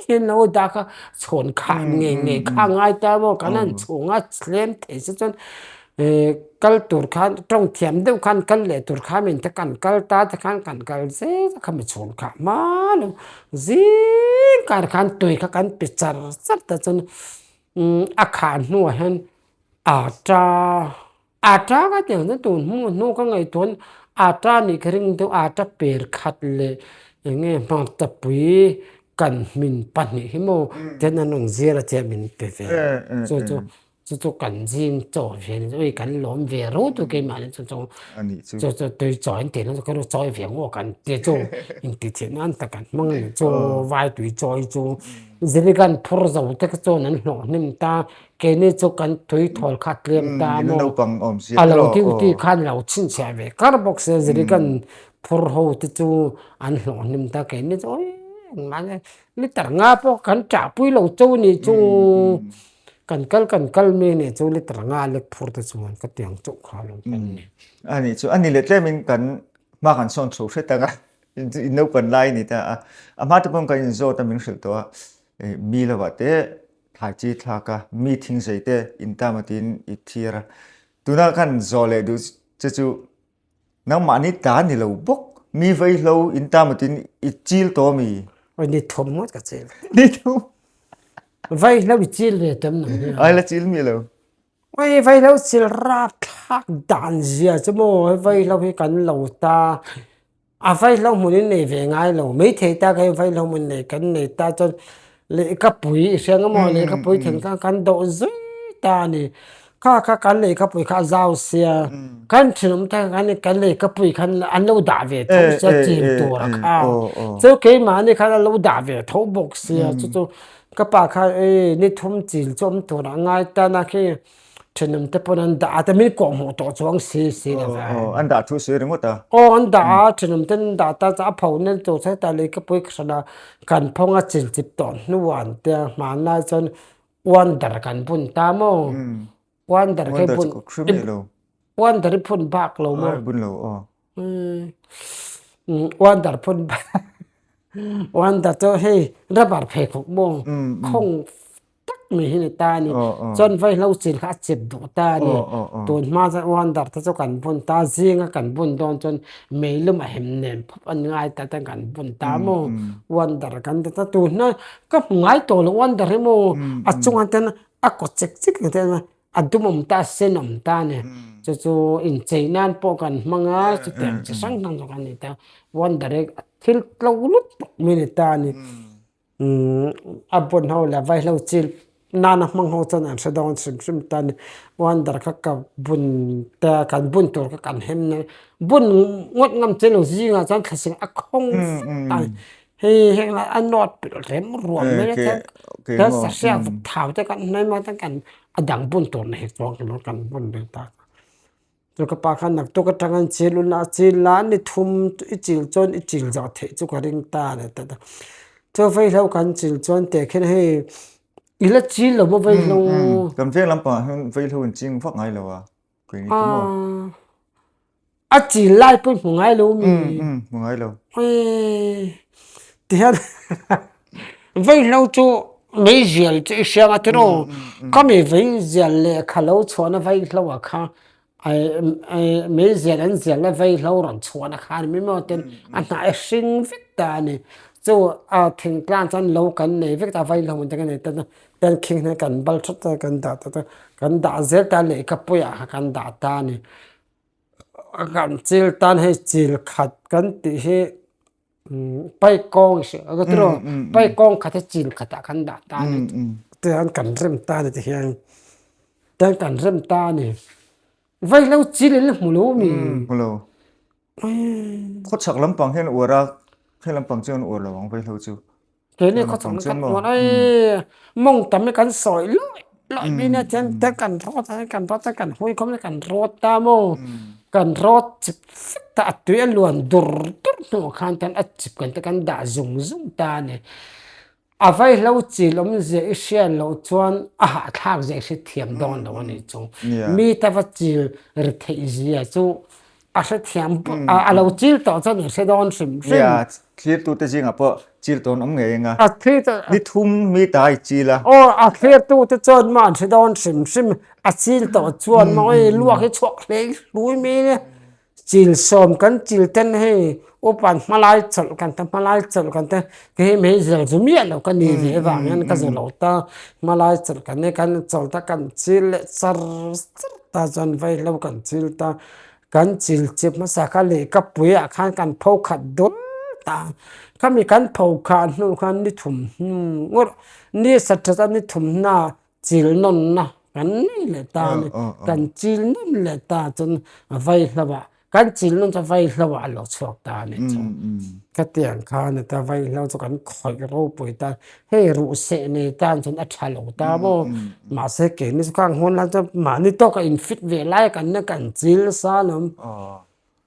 hi an lo dah kha chhawn khah ngei ngei kha a ngai ta maw kan han chhung a thlem thei se chuan. Ee kal tur khan tawng thiam deuh khan kal leh tur kha min te kan kal ta te khan kan kal zet a kha mi chhun khah hmaa lo zing khan khan tui kha kan pi char char ta chuan a kha hnuah hian ata ata ka ti ang chuan tun hmu hnu ka ngaihtuahin ata anih ka ring deuh ata per khat leh eng nge hmangtapui kan hmin pahnih hi maw tian an rawn zir a tia min pe ve chu chu chu chu kan zing chaw ve ni ui kan lawm ve ro tu ke mah ni chu chu chu chu tui chaw in tihna chu ka ru chawi ve ang aw kan ti chu in ti chhit nan ta kan hmang a ni chu vai tui chawi chu zirigan phur zo te ka chuan an hlawh hnem ta keini chu kan tui thawl khat lem ta maw a lo ding tih khan lo chhin chhiah ve kar bawk se zirigan phur ho te chu an hlawh hnem ta keini chu ui engmah zat litre nga pawh kan chah pui lo chaw ni chu Kan kal kan kal mi nih chu litra nga lek phur te chuan ka tiang chauh kha lo. Umm a nih chu a ni leh tlem in kan hma kan sawn chho hret ang a, in naupan lai a ni ta a, a hma te pawh kan in zawt a min hrilh tawh a, mi lo ah te thlai chi thlak a, mi thing zei te in tam a tiin i thlir a, tuna kan zawh leh duh che chu. Nangmah ni ta ni lo bawk. Mi vei hlo in ta mut in i chil tawh ami? Oi ni thum ngot ka chil. Ni thum? Vei hlo i chil ve tawh em nang hian. Ai la chil mi lo. Oi vei hlo chil rap thlak dan zia chu maw, vei hlo hi kan lo ta. A vai hlauhmun in nei ve ngai lo, maithei tak hian vai hlauhmun nei kan nei ta chuan lehkhapuii hrang emaw lehkhapui then khan kan doh zui ta a ni. Kha kha kan lehkhapui kha a zau sia, kan thinawm atang hian khan kan lehkhapuii khan an lo dah ve tho sia chim tura kha. Chu keimahni khan a lo dah ve tho bawk sia, chu chu ka pa khan ii ni thum chil chu awm tur ah a ngai tan a khi. Thinum te pawn an dah a, ta min kawh hmuh tawh chuang si si lo ve. Aw, an dah thu si ring ngawt a. Aw, an dah a, thinum ten an dah ta, a pho nel tur chuan heta lei ka pui ka hran a, kan phawng a chin chip tawh hnuah an tia, hmanlai chuan wonder kan bun ta maw? Wonder hi bun, wonder hi phun bak lo maw? Bun lo aw. Wonder phun bak, wonder chu hei rubber pheikhawk maw? Khawng tak mai hi ni ta a ni chuan vai hlo chin kha a chep duh ta a ni tun hma chuan wonder te chu kan bun ta zinga kan bun dawn chuan mei lum a hem nem phawp an ngai ta chuan kan bun ta a maw wonder kan ti ta tun hna ka hmu ngai tawh lo wonder hi maw a chunga te chuan a kaw chik chik ni ta chuan a dum awm ta a sen awm ta a ni chu chu inchei nan pawh kan hmang a chutiang chi hrang hrang zawk a ni ta wonder hi a thil tlo lut bawk mai a ni ta a ni. a bun ho leh vai ho chin nana hmang ho chuan an hre dawn hrim hrim ta ni wonder kha ka bun ta kan bun tur kha kan hem nang bun ngawt ngam che lo zing ah chuan thlasim a khawng fat ang hei heng lai a nawt pilh rem ruam mai a chuan kan sahriat vuk thau te kan hnai maithei chuan kan a dang bun tur na hi chuan kan bun ve ta. Chu ka pa khan naktuk atang an chil ulh a, chil la an ni thum i chil chuan i chil zah theih chu ka ring ta a ni ta ta. Chu vaihlo kan chil chuan teh khian hei i la chil lo maw vaihlo? Kan veng lam pangah hian vaihlo in ching vak ngai lo a, kei ni chu maw? A chil lai pawh i hmu ngai lo mi? Hmu ngai lo. Ti hian. Vei hlo chu mei zial chu i hriang a tiraw, ka mi vei zial leh kha lo chhuahna vei hlo ah kha mei zial an zial na vei hlo rawn chhuahna kha ani maw tin a hnah e hring vek ta a ni. Chu a thengtlang chuan lo kan nei vek ta a vei hlo awm te ka nei ta chuan kan khing hian kan bal thut ta kan dah ta chuan kan dah zel ta a lei ka puiah kha kan dah ta a ni. Kan chil tan hei chil khat kan tih hi Paik kawng i hreh, rawt erawh paik kawng khat hi chin khatah kan dah ta a ni. Tiang kan rem ta a ni tihian, tiang kan rem ta a ni. Vaihlo chil in hmu lo mi? Hmu lo. Khawchhak lampang hian uar a, khelampang chuan uar lo ang vaihlo chu. Kei nge khaw chhak na ka tluan ai mawng tam hi kan sawi luai luai mai nia thian ta kan rawt ang kan rawt ang kan hawi khawp mai kan rawt ta maw kan rawt chhip fek ta a tui a luan dur dur hnungah khan tan a chhip kan te kan dah zung zung ta a ni a vai hlo chil awm ziah i hriat loh chuan a hahthlak ziah i hre thiam dawn lo a nih chu mi tava chil ri theih zia chu-- A hrethiam pawh a lo chil tawh chuan i hre dawn hrim hrim. Nia, thlirtute zingah pawh chil tawn awm ngei eng a, ni thum mi ta i chil a. Aw, a thlirtute chuan maw an hre dawn hrim hrim a, a chil tawh chuan maw i luak hi chhuak hlei hlui mai nia, chil sawm kan chil ten hei Upan hmalai chawlh kan ta hmalai chawlh kan ta kei hi mei zel zu miah lo ka ni ve avang hian ka ze lo ta hmalai chawlh kan ne kan chawlh ta kan chil leh char char ta chuan vei hlo kan chil ta kan chil che hmasa ka leh ka puiah khan kan pho khat dul ta khami kan pho khah hnu khan ni thum hnu ngawt ni sa that a ni thum hna chil nawn na kan nei leh ta a ni kan chil nawn leh ta chuan a vai hlo a kan chil nawn chuan vai hlo a lo chhuak ta a ni chu khatiang khan heta vai hlo chu kan khawih ropui ta hei ruhseh nei tan chuan a tha lo ta maw mahse keini chu khang hawn lai chuan mahni tawka infit ve lai a kan na kan chil sa lom.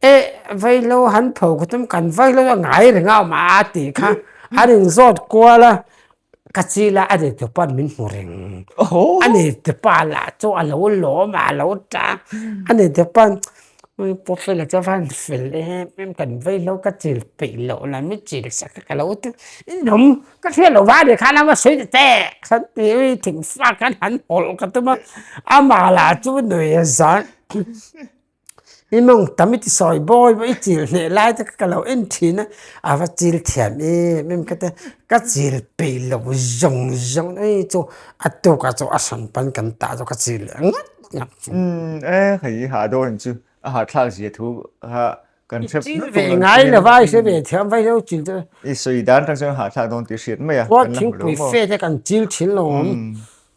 Eh vailo han pho ka tum kan vailo a ngai reng a awma a tih kha a rawn zawt kual a ka chi la a nei tur pawh min hmu reng a nei tur pawh a lah chu a lo lawm a a lo tang a nei tur pawh a paw fel a chu van fel em em kan vailo ka chil peih loh la min chil sak kha ka lo ti i nawm ka hriat loh va a ni khan a va sawi ta teh kha ti i thing fak khan han hawlh ka tum a a mah lah chu nuiah zawt. I mawng tam i ti sawi bawi baw i chil hneh lai taka ka lo en thin a, a va chil thiam em em ka ti a, ka chil peih loh zawng zawng ei chu a tukah chu a hran pan kan tah chu ka chil leh ngat ngat chu. E hei i hah dawn chu a hahthlak zia thu kha kan hrep nut tur lo thin. I chil ve ngai lova i hre ve thiam vai lo chil chu. I sawi dan tak chuan a hahthlak dawn tih hriat mai a kan la hmu lo maw. Khuan thingpui fate a kan chil thin lo.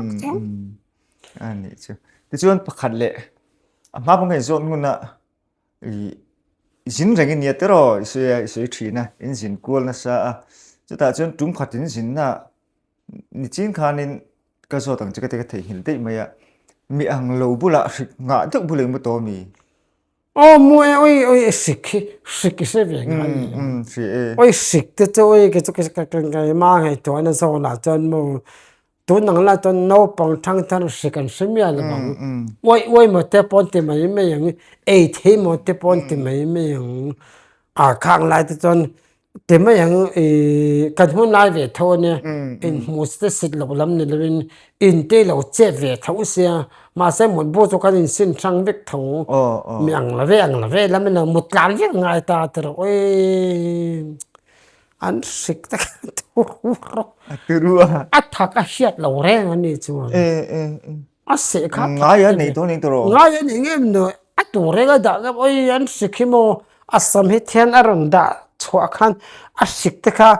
Uk Mm, chu. mm. A nih chu. Ti chuan pakhat leh a hma pawngain zawt ngun a i zin rengin nia te raw i sawi a i sawi thin a in zin kual nasa a chutah chuan tum khatin zinna ni chin khanin ka zawt ang che ka te ka theihnghilh daih mai a mi ang lo bula hrik nghah deuh bul eng maw tawh a mi Aw mu e awi awi e sik hi sik i hre ve ngha ni ang awi sik te chu awi kechu ka kengkaima a ngaihtuahna zawnah chuan mu tun ang lah chuan naupang thang thar sik an hre miah lo ang awi awi maw te pawh an ti mai mai ang ei thei maw te pawh an ti mai mai ang a kang lai te chuan Ti mai ang i, kan hun lai ve tho a nia, in hmus te sit loh lam ni lovin in tei lo chet ve tho sia, mahse mutbu chu kan in sin hrang vek tho mi ang love ang love lam in a mutlan vek ngai ta te rawh e, an hrik tak a turu a, a thak a hiat lo reng a ni chuan. A seh kha ngai a nei tur nei tur aw ngai a ni ngem nuh a tur enga dah ka awii an hrik hi maw a sam hi thian a rawn dah chhuah khan a hrik te kha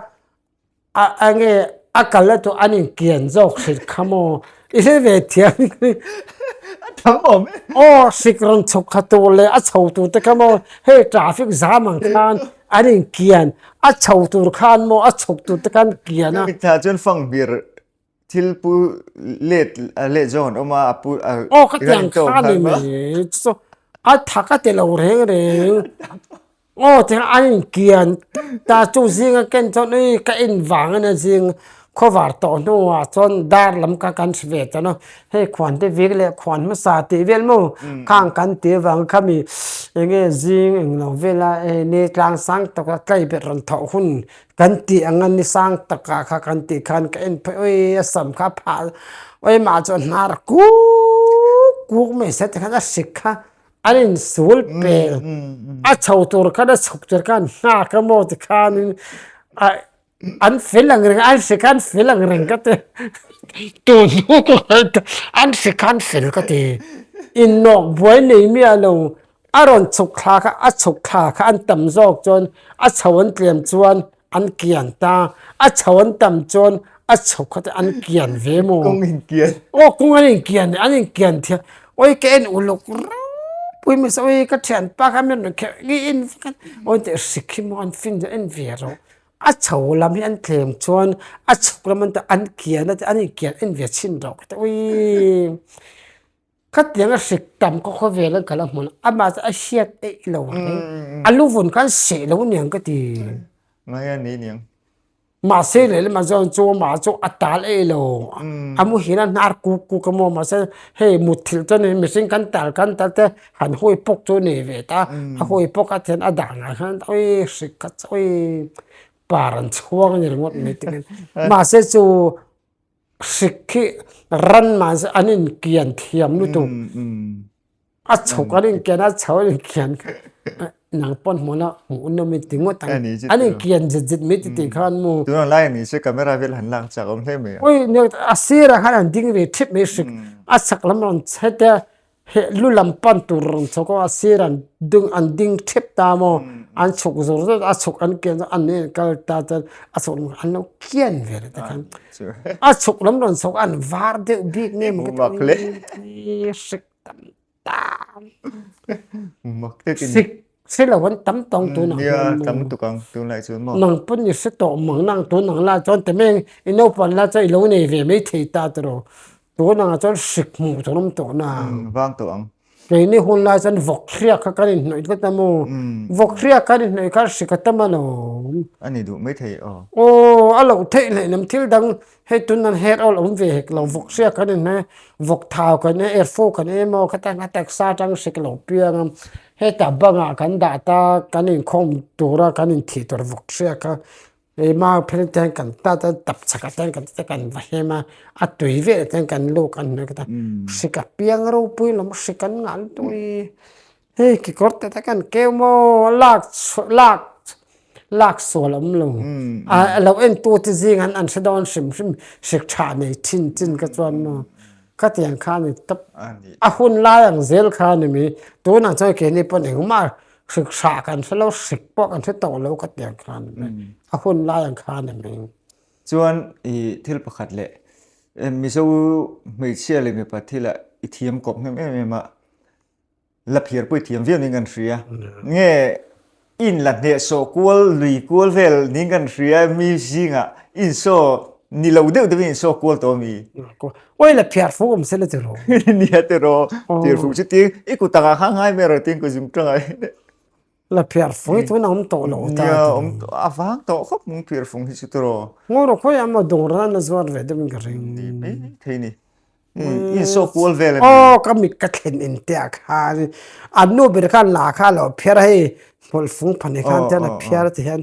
a a nge a kal la tur an in kian zawk hrilh kha maw i hre ve thiam hi a tam awm e aw hrik rawn chhawk kha tur leh a chho tur te kha maw hei traffic jam ang khan an in kian a chho tur khan maw a chhawk tur te khan kian a. Hemi thla chuan fangbir. thil pu let let zawng an awm a a pu a aw ka tiang kha ni ni chu chu a thak a tilo reng reng aw tiang an inkian tut ta chung zing a ken chuan ui ka en vang ania zing khaw var tawh hnungah chuan dar lam ka kan hre ve ta na hei khuan te vik leh khuan hmasa tih vel maw khang kan ti avang kha mi enge zing englo vela e ni tlang sang taka tlai ber rawn thauh hun Kan tih ang a ni sang takah kha kan tih khan ka en phawih ui a sam kha a phah ui mah chuan hnar kuk kuk mai se te khan a hrik kha an in sul pel a chho tur khan a chhuk tur khan hna ka maw ti khanin a an fel ang reng an hre kha an fel ang reng ka ti tun hnuk an hre kha an fel ka ti in nawk buai nei miah lo A rawn chhuk thla kha, a chhuk thla kha an tam zawk chuan a chho an tlem chuan an kian ta, a chho an tam chuan a chhuk kha te an kian ve maw? Kawng inkian. Aw kawng an inkian leh an inkian thiam. Awi ka en uluk rauhpui mahse awi ka thianpa kha mian rawn kherh ngei en vek a, aw nteh hrik hi maw an fing zawh en ve rawh. A chho lam hi an tlem chuan a chhuk lam anta an kian a tia an inkian en ve chin rawh ka ti awi. Ka tianga hrik tam ka khaw vel an kal a hmun a mah chu a hriat eih lo a keng a lu vun khan seh lo niang ka ti. Ngai a ni niang. Mahse lehlamah zawn chu mah chu a tal eih lo a mu hian a hnar kuk kuk a maw mahse hei mutthilh chuan in mihring kan tal kan tal te han hawi pawk chu a nei ve ta a hawi pawk a then a dah nghal khan awi hrik kha awi par an chhuang a ni ringawt mai takin mahse chu Hrik khi ran man se an in kian thiam lutuk a chhuk an in kian a chho an in kian nang pawn hmuh la hmuh un lomi ti ngawt ang an in kian zet zet mai titi kha an mu. Tunah lai ani se camera vel han lak chak awm hle mai a. Ui a sirah khan an ding ve thip mai hrik a chak lam rawn chhe te Heh, lu lam pan tur rawn chhawk a, a sir an ding an ding thep ta maw, an chhuk zawr zawr a, a chhuk an kian zawh an en kal ta chuan a chhuk lam an lo kian ve lo ta khan a chhuk lam rawn chhawk a an var deuh bik nge mawngte chu a ni mek hi hrik tam ta. Hrik. Silo an tam tawng tun ang hian Nia tam lutuk ang tun lai chu maw? Nang pawn ni se tawh mang nang tun ang la chuan te meng i naupang la chuan i lo nei ve mai thei ta te rawh. Tun ang ah chuan hrik hmuh tur awm tawh nang. Umm vang tawh ang. Keini hun lai chuan vawk hriak kha kan inhnawih tlat a maw? Vawk hriak kan inhnawih kha hrik a tam alawm. A ni duh mai thei aw. Aw a loh theih hlei lam thil dang Hei tunnan hair oil awm ve hek lo vawk siak kan en mai a vawk thau kan en er fo kan en em aw khata hna tak sa tang hre ka lo piang a heta bangah kan dah ta kan inkhawm tura kan inthih tur vawk hriak a hei ma phel te hian kan tlat a tap chak ata hian kan ti ta kan va hem a a tui vel ata hian kan luk a ni hre ka piang ropui lam hre kan nghalh dawn i. Hei kekawr tete kan keu maw lak chhuah lak lak sual awm lo a a lo en tu te zing an an hre dawn hrim hrim hre tha nei thin chin ka chuan maw ka ti ang kha ani top a hun lai ang zel kha ani mi tun ang chuan keini pawn engmah hre tha kan hre lo hre pawh kan hre tawh lo ka ti ang kha ani mi a hun lai ang kha ani mi. Chuan i thil pakhat leh mizo hmeichhia leh mipa thila i thiam kawp nghem em em a la phir pawih thiam viau ning kan hria nge in la hneh sawh kual lui kual vel ning kan hria mi zinga in saw ni lo deuh deuhin in saw kual tawh ami oi la phiar fu awm se la ti ro ni a ti ro phir fu chu ti i kutanga kha ngai mer a ti ku zung tanga La phiar fung hi chu na awm tawh lo ta Nia ti awm lo. a vang tawh khawp mawng phiar fung hi chu tiraw. Ngaw rawh khawi amaw dawng rang na zuar ve deuhin ka ring. Ni mai thei ni. Insawp kual vel a ni. Aw ka mit ka thlen in te ah khan an nu ber khan la kha lo phiar a hei hmawlh fung phan hi khan te la phiar tih hian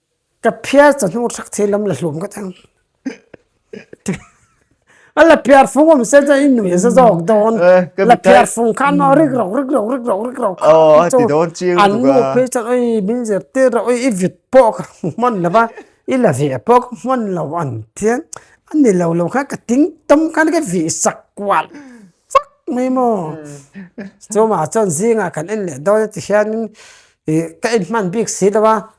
Ka phiar cha hnung hrek thei lam la hlum ka thang a la phiar fung awm se chuan in nuih za zawk dawn la phiar fung khan a rik rawk rik rawk rik rawk rik rawk a ti dawn chiang lutuk a an nu phei chuan awii min zir tir rawh awii i vit pawh ka hmu hman lo va i la ve pawh ka hman lo an tia a ni lo lo khan ka ting tum khan ka vih sak kual vak mai maw chumah chuan zingah kan en leh dawn a ti hian in ih ka en hman bik si lo va.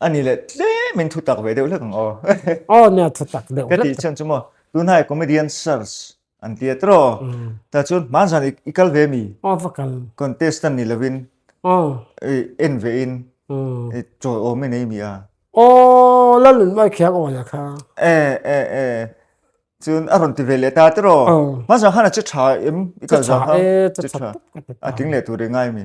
A ni leh tlem in thu tak ve deuh hlek ang aw. Aw nia thu tak deuh hlek. Ka tih chuan chu maw tunah comedian sirs an ti a tiraw. Tah chuan hman zan i kal ve mi. Aw va kal. Contestant ni lovin en ve in i chawi awm e nei mi a. Aw Lalun Mai Khiang Awi a kha. E e e chuan a rawn ti ve leh ta tiraw. Hman zan khan a che tha em i kal zan kha. Che tha e che tha. A tling leh tur e ngai mi.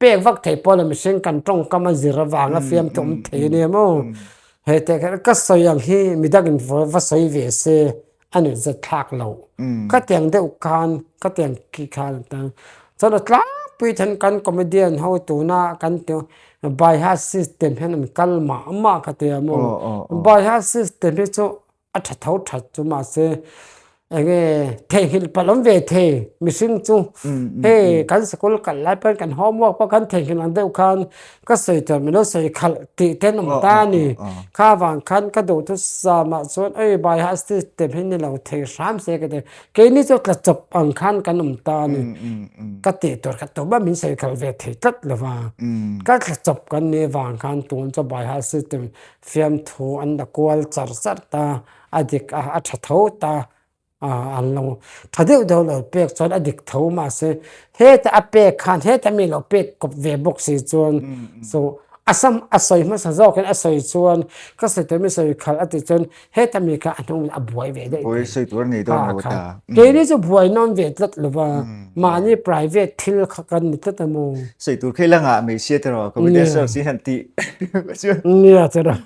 pek vak thei pawh la mihring kan tawngkam a zir avang a fiam tawh awm thei ania maw he teh ka rilh ka sawi ang hi midang in va sawi ve se a ni zet thlak lo ka tiang deuh khan ka tiang khi khan tan chuan a tlangpui then kan comedian ho tuna kan ti baiha system hian an kal mah mah ka tia maw baiha system hi chu-- A tha tho tha chu mahse eng nge theihlilh palh awm ve thei mihring chu hei kan sikul kalh lai pawn kan homework pawh kan theihlilh ang deuh khan ka sawi tawh milo sawi khalh tih te an awm ta a ni kha vang khan ka duh thu sa mah chuan ai bai a stage step hi ni lo thei hram se ka ti keini chu tla chawp ang khan kan awm ta a ni ka tih tur ka tum a min sawi khalh ve thei tlat lova ka tla chawp kan ni avang khan tun chu baiha system Fiamthu an la kual char char ta, a dik a, a tha tho ta ah an lo tha deuh deuh lo pek chuan a dik tho mahse heta a pek khan heta mi lo pek kawp ve bawk si chuan chu a sam a sawi hmasa zawk in a sawi chuan ka sawi tur mi sawi khal a ti chuan heta mi kha a hnung leh a buai ve daih daih a kha a kha keini chu buai nawm ve tlat lo va. Mahni private thil kha kan ni tlat a maw? Sawi tur khi langa hmeichhia te rawh, computer science hi han tih ka chuan. Nia che rawh.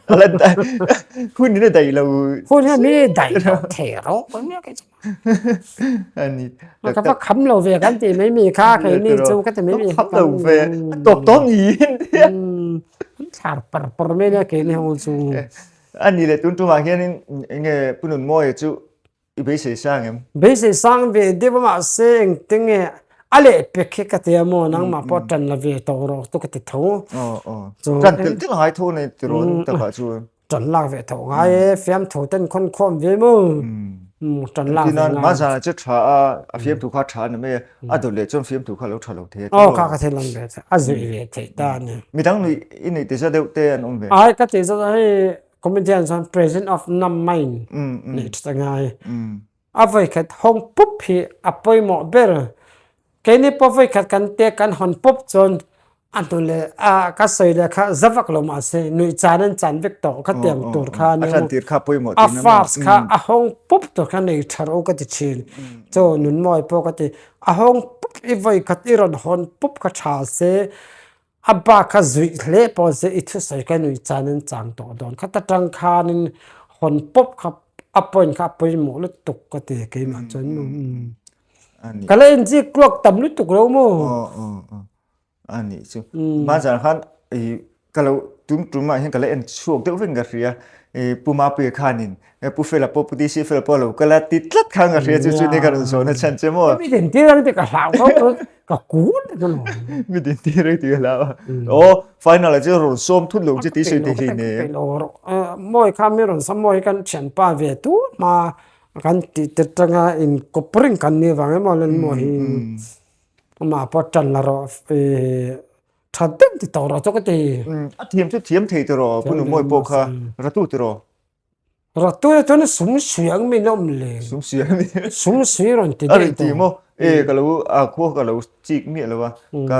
Hun hi a daih lo. Hun hi mi daih lo thei rawh pawh nia kei chuan. A ni. Ka ka va kham lo ve kan tih mai mi kha kei mi chu ka ti mai mi kha kan ni. A tawp tawp ni in tia. An thlar par par mai nia keini ho chu. A ni le tun tumah hianin enge Pu Nunmawia chu. I beisei sang em? Beisei sang ve deuh a mah se engte nge a leh pek hi ka ti a maw nangmah pawh a tan la ve tawh rawh chu ka ti tho. Tan tel tel a ngai tho a ni ti rawh tak ah chuan. Tan lak ve tho ngai e, fiam tho ten khawn khawm ve maw? Tan lak ve ngai. Engtin a mahzan ah chu tha a, a fiamtu kha tha a ni mai e, a dawt leh chuan fiamtu kha a lo tha lo thei e. Aw kha ka thil awm ve thei, a zui ve thei ta a ni. Midang i neih tisa deuh te an awm ve? Ai ka tih zat a hei Comedian chuan present of nam maiin neih ṭhat a ngai. A vawi khat hawng pup hi a pawimawh ber. Keini pawh vawi khat kan tia kan hawn pup chuan a hnu leh a ka sawi leh kha za vak lo mah se nuih chan in chan vek tawh ka tiang tur kha nia maw. A first kha a hawng pup tur kha nei ṭha ro ka ti ṭhin. Chaw Nunmawi pawh ka ti a hawng pup i vawi khat i rawn hawn pup ka ṭha se. A ba kha zuih hle pawh se i thusawi ka nuih chuan in chang tawh dawn khat atang khanin hawn pawp kha a point kha a pawimawh lutuk ka ti keimah chuan ka la en zik tluak tam lutuk lo maw. A nih chu mahzan khan ka lo tum tumah hian ka la en chhuak deuh vek in ka hria, Puma Piye khanin He pu fela pawh pu DC fela pawh a lo kal a ti tlat kha anga hria chu chu ni ka rawn zawhna chhan che maw. Mi din tir ang tih ka hlau kho a ka kut a chu lo. Mi din tir ang tih ka hlau a aw final ah chu a rawn sawm thut lo che tih sawi thei thei nen. Ka tilo rawh a mawi kha mi rawn sawm mawi hi kan thianpa ve tut hma a kan tih tir tanga in kawp ring kan ni avang emaw le maw hi amah pawh a tan la rawh i tha deuh ti tawh rawh chawk e ti. A thiam chu thiam thei tawh rawh a pu Numawi pawh kha ratu tawh rawh. Ratuia chuan sum suih ang min awm le. Sum suih ang min. Sum suih rawn ti deuh tawh. Mo. E ka lo a khuak ka lo chik miah lo a. Ka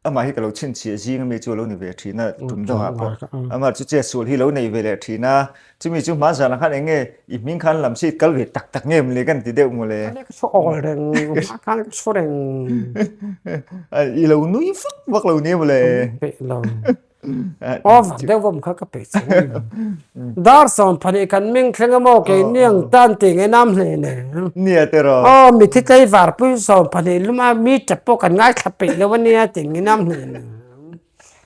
ama hi ka lo chhin chhia zing a mi chu lo ni ve thin a tum deuh a pawh. Ama chu che sul hi lo nei ve leh thin a. Chumi chu hma zan ah khan eng nge i hming khan lam si kal ve tak tak nge em le kan ti deuh maw le. Ka nek chhu awl reng hma khan ka chhu reng. I lo nui vak vak lo nia maw le. Ka nui peh lo. Off deuh vawm kha ka pe cheu a ni. Dar sawm phanih kan meng thleng a maw kei niang tan tih nge nam hle le. Ni a tir aw. Aw mithi tleivar pui sawm phanih lum a mi tap pawh kan ngaithla peih lo a nia tih nge nam hle le.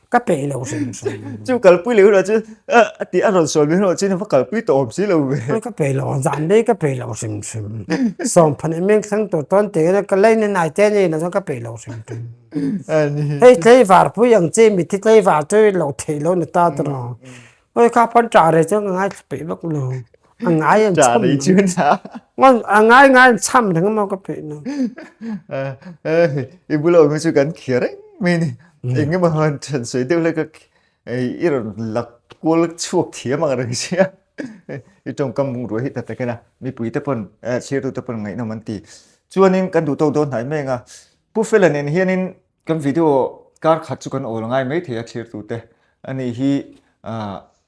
Ka peih lo hrim hrim. Chu kalpui leh erawh chu a tih a rawn sawi mai erawh chu ina va kalpui tawh awm si lo ve. Aw ka peih lo ang zan dei ka peih lo hrim hrim. Sawm phanih meng thleng tur tawn tih nge ka laina nai te a nih loh chuan ka peih lo hrim hrim. hei tleivar pui ang che mi te tleivar te lo thei lo na ta ta raw hoi kha pawn tah rei chu ngai thla peih vak lo a ngai an chham tah rei chu na ngai a ngai ngai an chham reng maw ka peih lo i bula awm hi chu kan khia reng mai ni eng emaw han chhan sawi deuh hlek a ei i rawn lak kual chhuak thiam ang reng si a i tawngkam bungrua hi ta takin a mipui te pawn chhirtu te pawn ngaihna awm an ti chuan in kan duh tawk dawn hnai meng a Pu Fela nen hianin kan video kar khat chu kan awl ngai mai thei a thirtu te a nih hi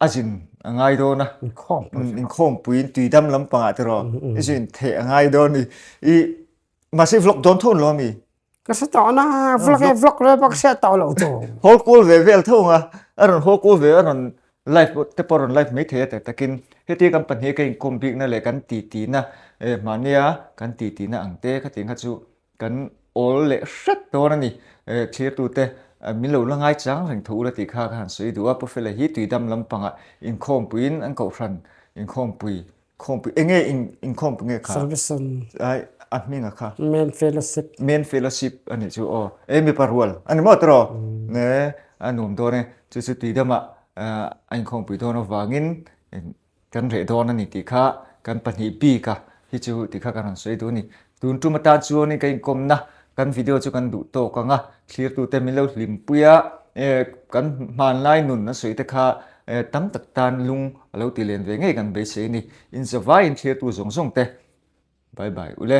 a zin a ngai dawn a inkhawm puiin tui dam lampangah te rawh i zin theh a ngai dawn ni i mahse vlog dawn tho lo ami ka hre tawh na vlog e vlog rel pawh ka hriat tawh lo chu haw kul ve vel tho nga a rawn haw kul ve a rawn live te pawh rawn live mai thei a ta takin heti kan pahnih ka inkawm bikna leh kan titihna e mahnia kan titihna ang te khatin kha chu Kan awl leh hret dawn a ni. Eh, thlirtute, min lo la ngai chang reng tho ula tih kha ka han sawi duh a, Pawfela hi tuidam lampangah inkhawmpuiin an kohhran, inkhawmpui, khawmpui, enge inkhawmpui nge kha? Salvation. Ai, a hminga kha? Main fellowship. Main fellowship a nih chu aw, eh, mipa rual a ni maw tawrh aw? Eh, a nuam dawn e, chu chu tuidamah a inkhawmpui dawn avangin Kan reh dawn a ni tih kha kan pahnih bika hi chu tih kha kan rawn sawi duh a ni. Tun tum atan chuan ka inkawmna kan video chu kan duh tawk ang a, thlirtute min lo hlimpui a, kan hmanlai nun a sawi te kha tam tak tan lung a lo ti len ve ngei kan beisei a ni. Inzawvaiin thlirtu zawng zawng te bye bye u le.